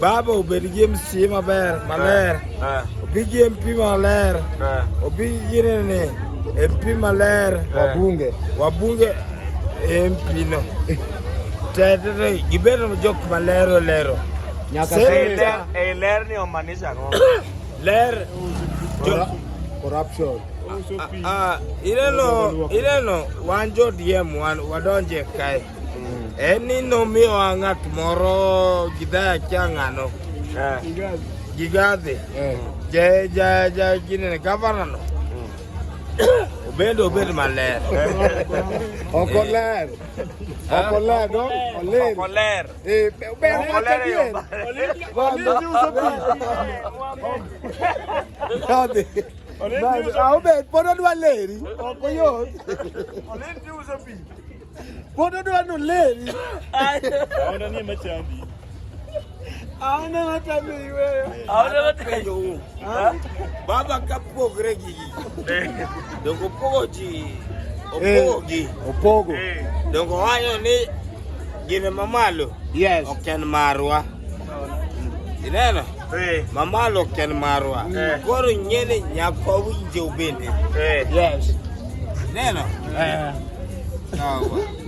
Baba obed gi MC maber maler, obi gi MP maler, obi gi nene MP maler, wabunge wabunge MP no tetete gibed jok maler olero nyaka e ler ni omaanisha ang'o? Ler corruption ah, ah, ineno ineno wan jo DM wan wadonje kae Eni nomiyowa ng'at moro gidhaya kia ng'ano gigadhi ginene gavanano obedo obed maler ok oler ok oler no oler ok oler eh ober ok oler yo Kadhi. Obed, pod odwa leri. Ok oyot. Olin ti uso pi. Watoto wano leli. Aona ni machandi. Aona hata mimi wewe. Aona hata ndio. Baba kapo gregi. Ndio poji. Opogi. Eh, Opogo. Eh. Dongo hayo ni jina mamalo. Yes. Oken marwa. ineno eh. mamalo ken marwa eh. koro nyene nyako winje ubende eh. yes ineno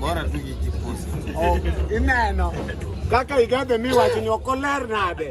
bora tu kijipusi oh, ineno kaka igadhe miwacho ni ok oler nade